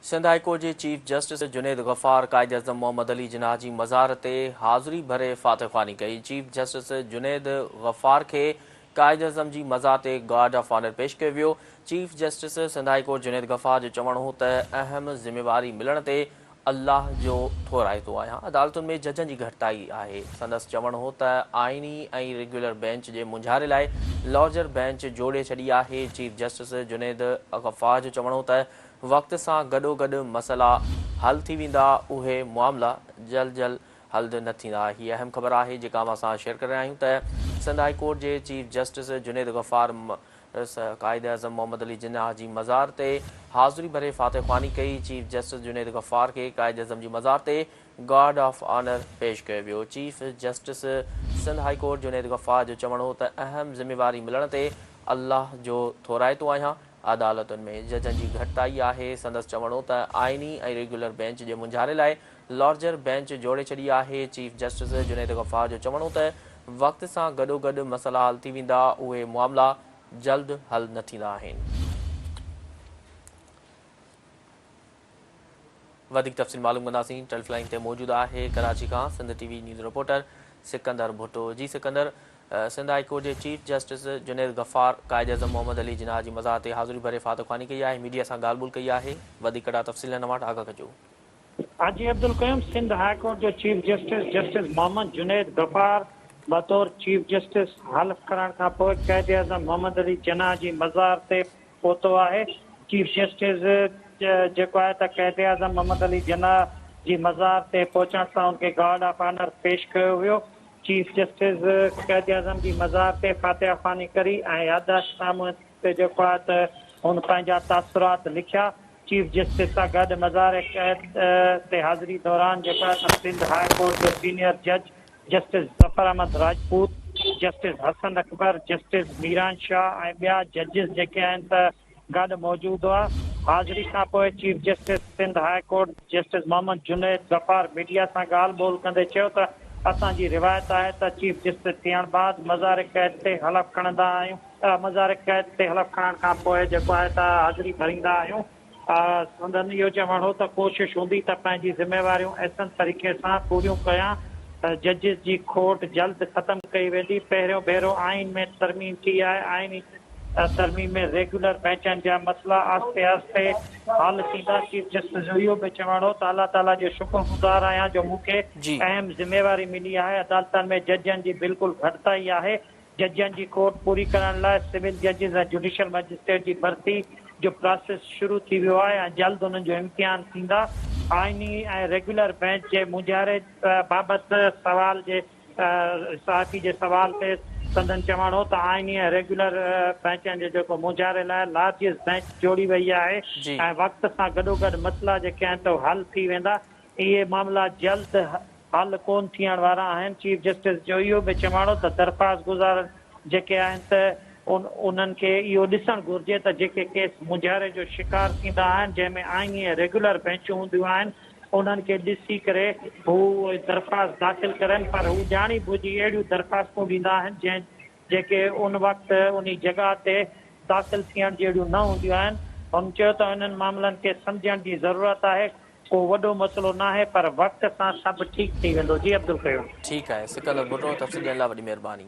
Sindh high court جي chief justice Junaid Ghaffar Quaid-e-Azam Muhammad Ali Jinnah جي مزار تي حاضري ڀري فاتح خواني ڪئي، چيف جسٽس جنيد غفار کي قائداعظم جي مزار تي گارڊ آف آنر پيش ڪيو ويو، chief justice Sindh high court Junaid Ghaffar جو چوڻ هو ته اهم ذميواري ملڻ تي الله جو ٿورائتو آهيان، عدالتن ۾ ججن جي گهٽتائي آهي، سندس چوڻ هو ته آئيني ۽ ريگيولر بئنچ جي مونجهاري لاء لارجر بئنچ جوڙي ڇڏي آهي، چيف جسٽس جنيد غفار جو چوڻ هو ته وقت سان گڏوگڏ مسئلا حل ٿي ويندا، اهي معاملا جلد جلد حل نه ٿيندا. هي اهم خبر آهي جيڪا اوهان سان شيئر ڪري رهيا آهيون ته سنڌ هاء ڪورٽ جي چيف جسٽس جنيد غفار مس قائد اعظم محمد علي جناح جي مزار تي حاضري ڀري فاتح خواني ڪئي، چيف جسٽس جنيد غفار کي قائد اعظم جي مزار تي گارڊ آف آنر پيش ڪيو ويو، chief justice Sindh high court Junaid Ghaffar جو چوڻ هو ته اهم ذميواري ملڻ تي الله جو ٿورائتو آهيان، عدالتن ۾ ججن جي گهٽتائي آهي، سندس چوڻ هو ته آئيني ۽ ريگيولر بينچ جي مونجهاري لاء لارجر بينچ جوڙي ڇڏي آهي، چيف جسٽس جنيد غفار جو چوڻ هو ته وقت سان گڏوگڏ مسئلا حل ٿي ويندا، اهي معاملا جلد حل نه ٿيندا آهن. وڌيڪ تفصيل معلوم ڪنداسين ٽيلف لائين تي موجود آهي ڪراچي کان Sindh T V news reporter Sikandar Bhutto جي سڪندر سنڌ هاء ڪورٽ جي چيف جسٽس جنيد غفار قائد اعظم محمد علي جناح جي مزار تي حاضري ڀري فاتحخواني ڪئي آهي ميڊيا سان ڳالهه ٻولهه ڪئي آهي وڌيڪ ڪڙا تفصيل هن وٽ آگاهه ڪجو. حاجي عبدالقيوم سنڌ هاء ڪورٽ جو chief justice justice Muhammad Junaid Ghaffar بطور چيف جسٽس حلف کرڻ کانپوء قائد اعظم محمد علي جناح جي مزار تي پهتو آهي، چيف جسٽس جيڪو آهي ته قائد اعظم محمد علي جناح جي مزار تي پهچڻ سان ان کي گارڊ آف آنر پيش ڪيو ويو، چيف جسٽس قائد اعظم جي مزار تي فاتحه خواني ڪري ۽ يادداشت نامي تي جيڪو آهي ته هن پنهنجا تاثرات لکيا، چيف جسٽس سان گڏ مزار قائد تي حاضري دوران جيڪو آهي ته سنڌ هاء ڪورٽ جو سينيئر جج. Justice Zafar Ahmed Rajput, justice Hassan Akbar, justice Miran Shah ۽ ٻيا ججز جيڪي آهن ته گڏ موجود هئا. حاضري کانپوء chief justice Sindh high court justice Muhammad Junaid Zafar media سان ڳالهه ٻولهه ڪندي چيو ته اسان جي روايت آهي ته چيف جسٽس ٿيڻ بعد مزار قيد تي حلف کڻندا آهيون، مزار قيد تي حلف کڻڻ کانپوء جيڪو آهي ته حاضري ڀريندا آهيون. سندن اهو چوڻ هو ته ڪوشش هوندي ته پنهنجي ذميواريون احسن طريقي سان پوريون ڪيان، ججز جي کوٽ جلد ختم ڪئي ويندي، پهريون ڀيرو آئين ۾ ترميم ٿي آهي، آئيني ترميم ۾ ريگيولر بئنچن جا مسئلا آهستي آهستي حل ٿيندا، چيف جسٽس جو اهو به چوڻ هو ته الله تعاليٰ جو شڪر گذار آهيان جو مون کي اهم ذميواري ملي آهي، عدالتن ۾ ججن جي بلڪل گهٽتائي آهي، ججن جي کوٽ پوري ڪرڻ لاء سول ججز ۽ جڊيشل مئجسٽريٽ جي ڀرتي جو پراسيس شروع ٿي ويو آهي ۽ جلد انهن جو امتحان ٿيندا. آئيني ۽ ريگيولر بينچ جي مونجهاري بابت سوال جي صحافي جي سوال تي سندن چوڻ هو ته آئيني ۽ ريگيولر بينچن جي جيڪو مونجهاري لاء لارجز بينچ جوڙي وئي آهي ۽ وقت سان گڏوگڏ مسئلا جيڪي آهن ته حل ٿي ويندا. اهي معاملا جلد حل ڪون ٿيڻ وارا آهن، چيف جسٽس جو اهو به چوڻ هو ته درخواستگذار جيڪي آهن ته انهن کي اهو ڏسڻ گهرجي ته جيڪي ڪيس مونجهاري جو شڪار ٿيندا آهن جنهن ۾ آئيني ۽ ريگيولر بئنچون هونديون آهن انهن کي ڏسي ڪري هو اهي درخواست داخل ڪرن پر هو ڄاڻي ڀڄي اهڙيون درخواستون ڏيندا آهن جنهن جيڪي ان وقت انهي جڳهه تي داخل ٿيڻ جهڙيون نه هونديون آهن هن چيو ته انهن معاملن کي سمجهڻ جي ضرورت آهي ڪو وڏو مسئلو ناهي پر وقت سان سڀ ٺيڪ ٿي ويندو جي عبدالقيوم. ٺيڪ آهي سڪندر ڀٽو تفصيل ڏيڻ لاء وڏي مهرباني.